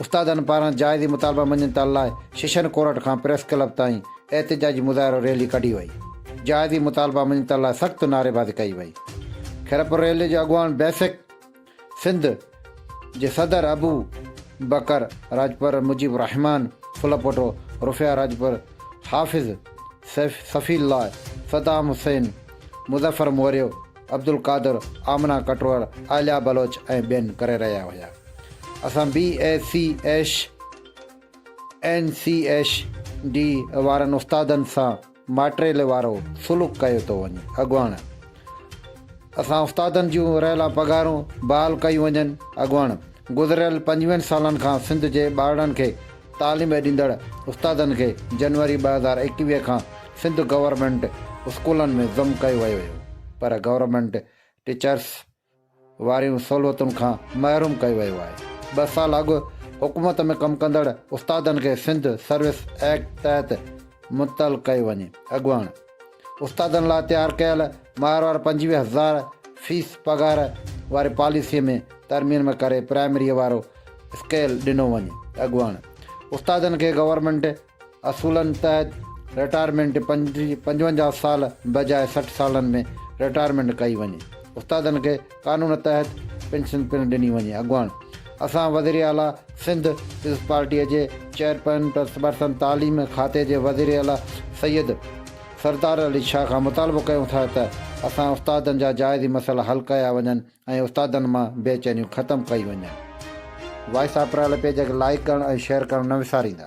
استادن پاران جائزي مطالبا مڃتا لاء شيشن ڪورٽ کان پريس ڪلب تائين احتجاجي مظاهرو ريلي ڪڍي وئي. جائزي مطالبا مڃتا لاء سخت نعريبازي ڪئي وئي. خيرپور ريلي جو اڳواڻ بيسڪ سنڌ جي صدر ابو بڪر راڄپر، مجيب الرحمان ڦلپوٽو، رفيع راڄپر، حافظ سيف صفي الله، صدام حسين، مظفر موريو، عبدالقادر، آمنه ڪٽوهر، عاليا بلوچ ۽ ٻين ڪري رهيا هيا. اسان B A C H N C H D وارن استادن سان ماٽريل وارو سلوڪ ڪيو ٿو وڃي. اڳواڻ، اسان استادن جون رهيلا پگهارون بحال ڪيون وڃن. اڳواڻ، گذريل پنجويهن سالن کان سنڌ جي ٻارڙن کي تعليم ڏيندڙ استادن کي جنوري ٻه هزار ايڪويهه کان سنڌ گورنمينٽ اسڪولن ۾ ضم ڪيو ويو هيو پر گورنمينٽ ٽيچرس واريون سهولتن کان محروم ڪيو ويو آهي ٻه سال اڳ حڪومت ۾ ڪم ڪندڙ استادن کي سنڌ سروس ايڪٽ تحت معطل ڪيو وڃي اڳواڻ استادن لاء تيار ڪيل ماهروار پنجويهه هزار فيس پگهار واري پاليسيء ۾ ترميم ڪري پرائمريء وارو اسڪيل ڏنو وڃي. اڳواڻ استادن کي گورنمينٽ اصولن تحت رٽائرمينٽ پنجونجاهه سال بجاء سٺ سالن ۾ رٽائرمينٽ ڪئي وڃي. استادن کي قانون تحت پينشن پڻ ڏني وڃي، اڳواڻ. اسان وزيراعليٰ سنڌ پيپلز پارٽيء جي چيئرپرسن پرسن تعليم کاتي جي وزيراعليٰ سيد سردار علي شاهه کان مطالبو ڪيون ٿا ته اسان استادن جا جائزي مسئلا حل ڪيا وڃن ۽ استادن مان بي چينيون ختم ڪئي وڃن. وائس آف پرايل پيج کي لائيڪ ڪرڻ ۽ شيئر ڪرڻ نه وساريندا.